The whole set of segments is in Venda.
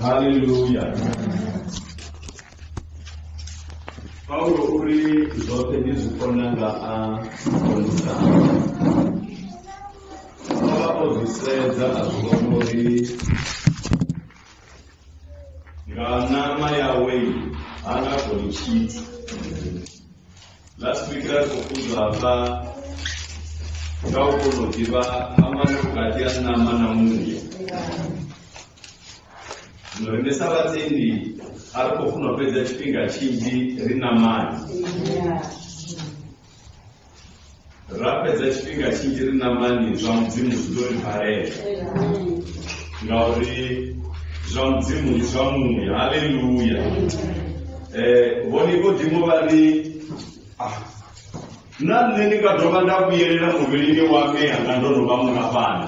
haleluya paulo u ri zwoṱhe ndi zwi kona nga a konisa o vha o zwi sedza a zwi vhona uri nga ṋama yawe ha nga koni tshithu last week ra khou funzwa hafha nga u kona u ḓivha phambano vhukati ha ṋama na muya Zwino riṋe sa vhatendi a ri khou funa u fhedza tshifhinga tshinzhi ri na mani ra fhedza tshifhinga tshinzhi ri na mani zwa mudzimu zwi ḓo ri balela ngauri zwa mudzimu ndi zwa muya haleluya um vhone vhodimo vha ri ah, na nṋe ndi nga dovha nda vhuyelela muvhilini wa mme hanga ndo no vha mungafhana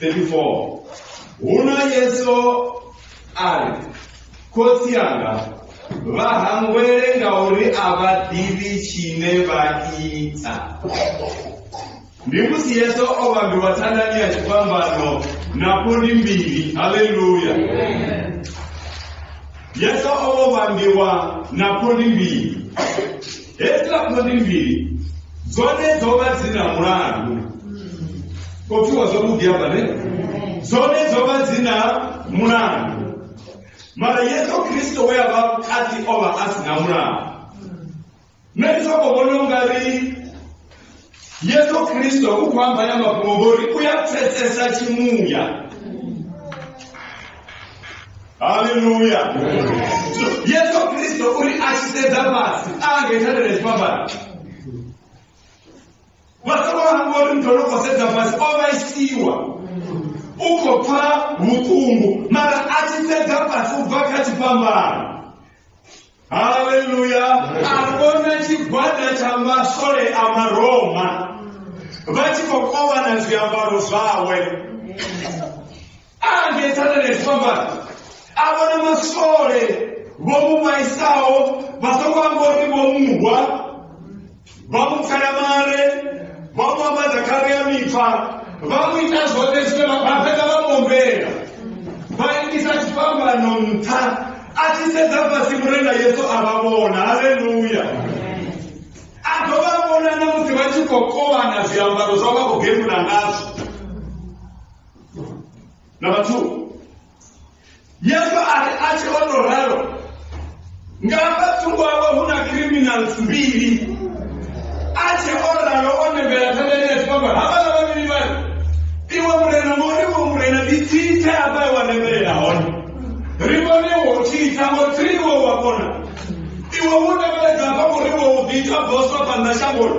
34 huno yesu a ri khotsi anga vha hangwele ngauri a vha ḓivhi tshine vha ita ndi musi yesu o vhambiwa thandani ya tshifhambano na phundi mbili haleluya yesu o vhambiwa na phundi mbili Hedziḽa khondi mbili dzone dzo vha dzi na mulandu khou pfiwa zwavhuḓi hafha ne dzone dzo vha dzi na mulandu mara yesu kristo we a vha kati o vha a si na mulandu nṋe ndi soko vhona u nga ri yesu khristo u khou amba na mafhungo ngori u ya pfesesa tshimuya haleluya So, yesu khristo uri a tshi sedza fhasi a nga ita lele tshifhambano vha songo hangwa uri muthu ono khou sedza fhasi o vhaisiwa u khou pfa vhuṱungu mara a tshi sedza fhasi u bva kha tshifhambano haleluya a vhona tshigwada tsha maswole a maroma vha tshi khou kovhana zwiambaro zwawe a ngetsana nezwiambaro a vhona maswole vho mu vhaisaho vha songo amba uri vho muhwa vha mu pfela mare vha mu ambadza khare ya mipfa vha mu ita zwoṱhe zwine vha vha fhedza vha mombela vha itisa tshifhambano nṱha a tshi sedza fhasi murenga yesu a vha vhona haleluya a dovha a vhona na musi vha tshi khou kovhana zwiambaro zwa vha khou gemula ngazwo na vhathu Yesu a ri a tshi o tou ralo nga hafha thungo hawe hu na criminals mbili a tshi o ralo o nembela thavhani ya tshipamba havhala vhavhili vhari iwe murena mori wo murena ndi tsithe hafha wa nembelela hone ri vhone wo tshitha ngo three wo wa kona iwe wo nembedza hafha ngori wo ḓi ita boswa phanḓa shangoni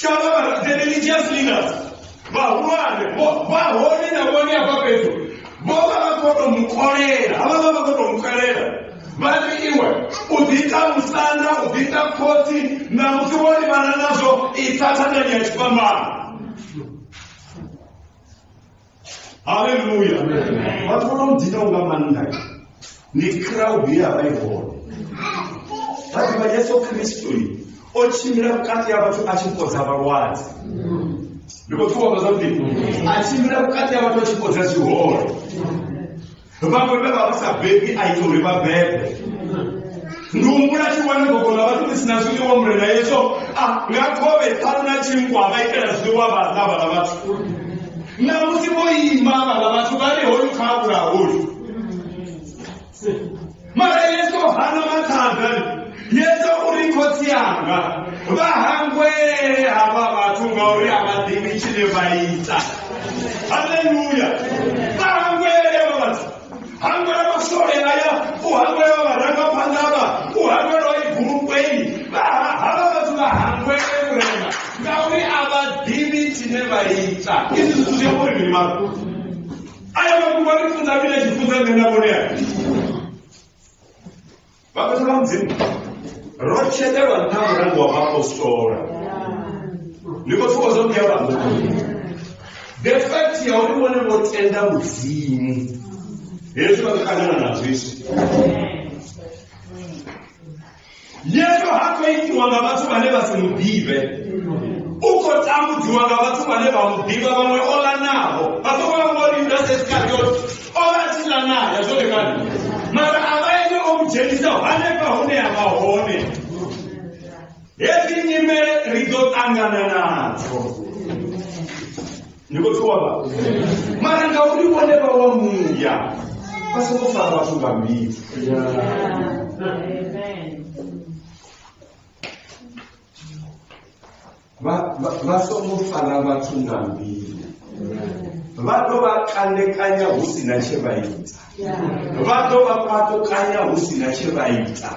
chavava the religious leaders vahulwane vo- vahone na vone apa fhethu vho vha vha khou tou mukolela havha vha vha khou tou mukolela vha ri iwe u ḓiita musanda u ḓiita khotsi na musi wo livhana nazwo i thathanani ya tshifhambano haleluya vhathu vho no mudinaho nga maanḓa ni crowd ye ya vha i hone vha ḓivha yesu kristo o tshimbila vhukati ha vhathu a tshi fhodza vhalwadze ndi khou thuwa vha zwa mbilu a tshimbila vhukati ha vhathu a tshi fhodza zwihole vhaṅwe vhe vha vha sa bebi a ita uri vha bebe ndi humbula tshi wane gogo ḽa vhathu ḽi si na zwiḽiwa murena yeso a nga khovhe ṱhanu na tshinkwa vha itela zwiḽiwa vha ḽa vhala vhathu na musi vho ima vhala vhathu vha ri hoyu kha a vhulaha hoyu mara yesu hana mathada yesu uri khotsi anga vha hangwele havha vhathu ngauri a vha ḓivhi tshine vha ita haleluya vha hangwele vha vhathu hangwela masole aya u hangwela vharangaphanḓa vha u hangwela igulukweni havha vhathu vha hangwele vhurema ngauri a vha ḓivhi tshine vha ita izwi zwithu zwi a uri mini mara aya mafhungo a ri funza mini a tshi funza nṋe na vhone a vhafhethu vha mudzimu ro tshetelwa nṱha mulandu wa vhaapostola ni khou pfuka zwo mbuya vhanga the fact ya uri vhone vho tenda mudzimu hezwi vha ṱangana nazwo izwi yesu ha khou itiwa nga vhathu vhane vha si mu ḓivhe u khou tambudziwa nga vhathu vhane vha mu ḓivha vhaṅwe o lanaho vha songo vha ngori yudase iskariot o vha tshi ḽa naye zwone kani mara a vha ene o mu dzhenisaho hanefha hune a vha hone hedzi nyimele ri ḓo ṱangana nadzo ni khou pfiwa vha mara ngauri vhone vha wa muya vha soko fara vhathu nga mbilu vha songo fara vhathu nga mbilu vha tou vha kandekanya hu si na tshe vha ita vha ḓo vha kwatukanya hu si na tshe vha ita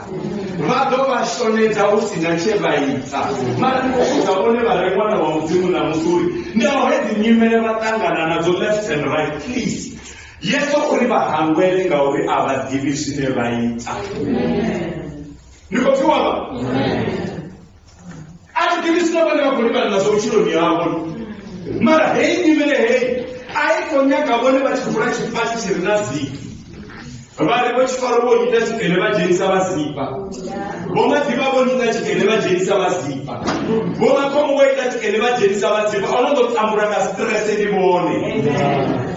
vha ḓo vha shonedza hu si na tshe vha ita mara ndi khou vhudza vhone vha re ṅwana wa mudzimu na musuri ndi aho hedzi nyimele vha ṱangana nadzo left and right please yeso uri vha hangwele ngauri a vha ḓivhi zwine vha ita ni khou pfiwa vha a thi ḓivhi zwine vhone vha khou livhana nazwo vhutshiloni havho mara heyi nyimele heyi a i khou nyaga vhone vha tshi vula tshifasi tshi re na ziki vha ri vho tshifaro vho nyita tshikene vha dzhenisa vha zipa vho maḓivha vho nyita tshikene vha dzhenisa vha zipa vho makhombo vho ita tshikene vha dzhenisa vha zipa o no ḓo tambula nga stress ndi vhone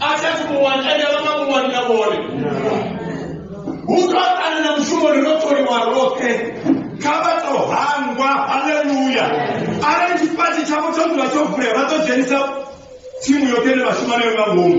a thi athu muwani ende a vha nga muwani na vhone hu to ane na mushumo ri no tholiwa roṱhe kha vha to hangwa haleluya arali tshipatshi tshavho tsho dzula tsho vulea vha ḓo dzhenisa tsimu yoṱhe ine vha shuma nayo nga ngomu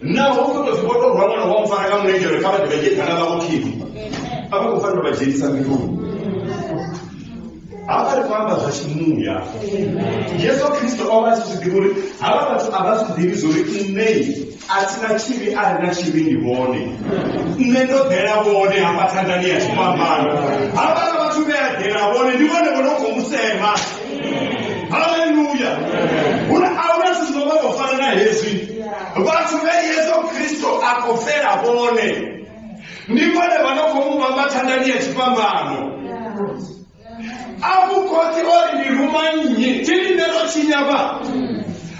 naho u khou tou zwi vho tou rwa ṅwana wa mu fara nga mulenzhe uri kha vha ḓivhe dzheni kana vhavho khini a vha khou fanela u vha dzhenisa mbiluni hafha ri khou amba zwa tshimuya yesu kristo o vha a tshi zwi ḓivha uri havha vhathu a vha zwi ḓivhi zwori nṋei a thi na tshivhi a ri na tshivhi ndi vhone nṋe ndo ḓela vhone hafha thandani ya tshifhambano havhala vhathu vhe a ḓela vhone ndi vhone vho no khou mu sema haleluya hune a huna zwithu zwino vha tou fana na hezwi vhathu vhe yesu kristo a khou fela vhone ndi vhone vha no khou mu vhamba thandani ya tshifhambano a vhukhotsi ori ndi ruma nnyi tshi lindelo tshinyavha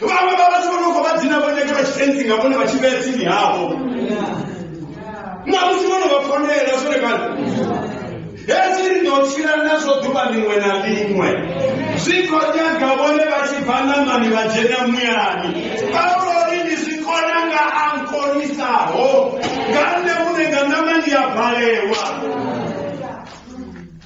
vhaṅwe vha vhathu vho no khou vha dzina vho nyage vha tshitentsi nga vhone vha tshi vhea tsini havho namusi vho no vha fonela zwone kana hezwi ri ḓo tshila nazwo ḓuvha ḽiṅwe na ḽiṅwe zwi khou nyaga vhone vha tshi bva ṋamani vha dzhena muyani paulo ri ndi zwi kona nga a nkonisaho nga nṋe muṋe nga ṋama ndi a balewa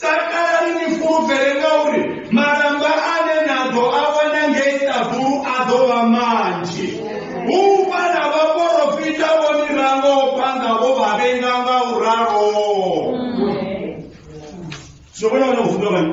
Takalani ni fulufhele ngauri malamba ane na ḓo a wana ngei ṱaḓulu a ḓo vha manzhi hu vha na vhaporofita vho ni rangaho phanḓa vho vha vhenga nga u ralo zwo vhona vhana u funga vhani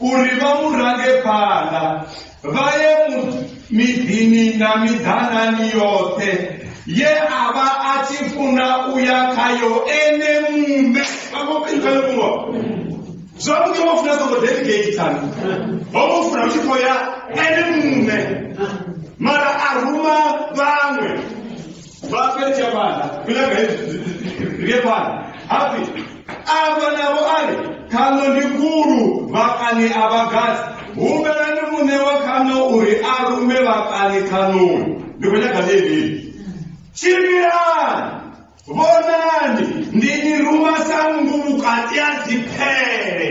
uri vha mu range phanḓa vha ye miḓini na miḓanani yoṱhe ye a vha a tshi funa u ya khayo ene muṋe vhaoiaemuwa zwavhuḓi vho funa songo deligatani ho vho funa u tshi khou ya ene muṋe mara a ruma vhaṅwe Vhafhedzi ya fhaḽa milaga ri ye fhaḽa hafi afha navho a ri khaṋo ndi khulu vhakani a vha gadzi humbelani muṋe wa khaṋo uri a rume vhakani khaṋoni ndi khou nyaga ḽeḽi tshimbilani vhonani ndi ni ruma sa nngu vhukati ha dziphele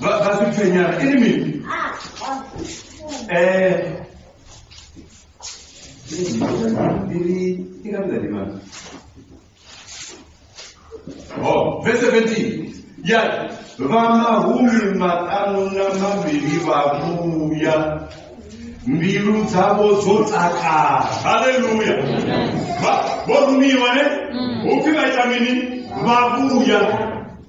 ba ba se tshwenyana e le meng eh Oh, verse 17. Ya vamahumi maṱanu na mavhili vha vhuya mbilu dzavho dzo takala haleluya vho rumiwa ne upfi vha ita mini vha vhuya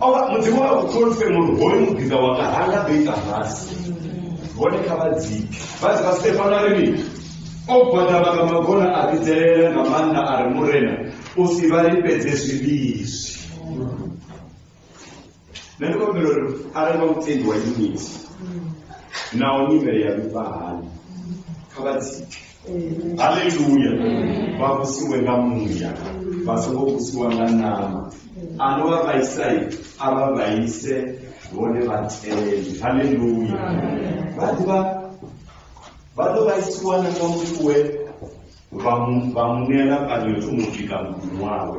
o vha mudzimu a uthonise mulu hoyu muḓinga wanga ha nga ḓo ita fhasi vhone kha vha dzike vha dzi vha stefano a ri mini o gwadama nga magona a vhidzelela nga maanḓa a ri murena u si vha lifhedze zwivhizwi nṋe ndi kombela uri arali vha mutendi wa yuniti naho nyimele ya vhifha hani kha vha dzike haleluya vha vhusiwe nga muya vha songo vhusiwa nga nama ano vha vhaisai a vha vhaise vhone vhateli haleluya vha ḓivha vha ḓo vhaisiwa na nga muthu we vha mu- vha munela kana yo thoma u bika muḓini wawe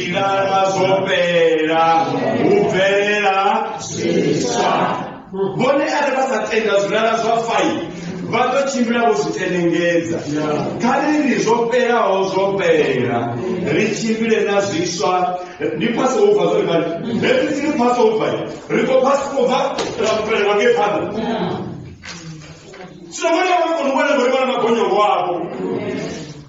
Ngala zwo fhela hu bvelela zwiswa vhone arali vha sa tenda zwilala zwa fai vha ḓo tshimbila vho zwi tenengedza kha ri ri zwo fhelaho zwo fhela ri tshimbile na zwiswa ndi phasi ho bva zwori mani hezwi si ri phasi ho bva ri khou phasi khou bva ra fhelelwa nge phanḓa zwino vhone vha kona u vhona vhori vhana magonyo wavho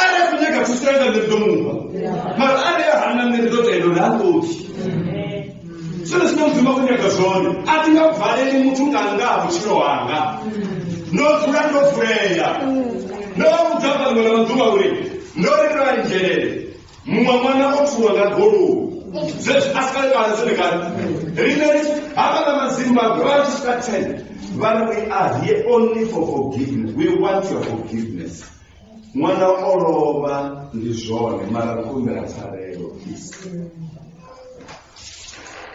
arali khou nyaga thuso yanga nṋe ndi ḓo mufha mara arali a hana nṋe ndi ḓo tenda uri ha ṱoḓi zwone zwine mudzimu a khou nyaga zwone a thi nga valeli muthu nga nga ha vhutshilo hanga ndo dzula ndo vulea ndo vha vhudza vhaṅwe na maḓuvha uri ndo ri ndo anzhelele muṅwe ṅwana o thuwa nga goloi zwezwi a si kale kale zwone kale rine hafha na mazimbabwe vha tshi swika ten vha ri we are here only for forgiveness we want your forgiveness ṅwana o lovha ndi zwone mara ri khou humbela pfarelo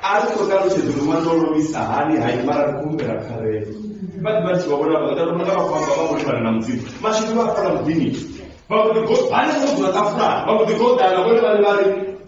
a ri khou ṱalutshedza uri ṅwana o lovhisa hani hai mara ri khou humbela pfarelo vhaḓi vha tshi vha vhona vhaḓa vhona nga vhakhou amba vha vho livhana na mudzimu mashudu vha fula muḓini vha vho ḓi go hani vho dzula ṱafulani vha vho ḓi goḓana vhone vhane vha ri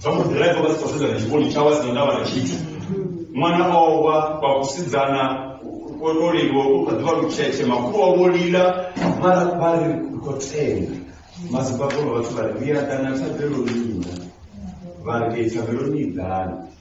zwa mu ḓiraiva vha si khou sedzana tshivhoni tshawe a si na ndavha na tshithu ṅwana o wa vha kusidzana o to liliwa u kha ḓivha lutshetshe makhulu wa vho lila mara vha ri ri khou tenda mazibabolo vhathu vha ri ri a ḓana thabeloni ina vha ri ke thabeloni i ḓana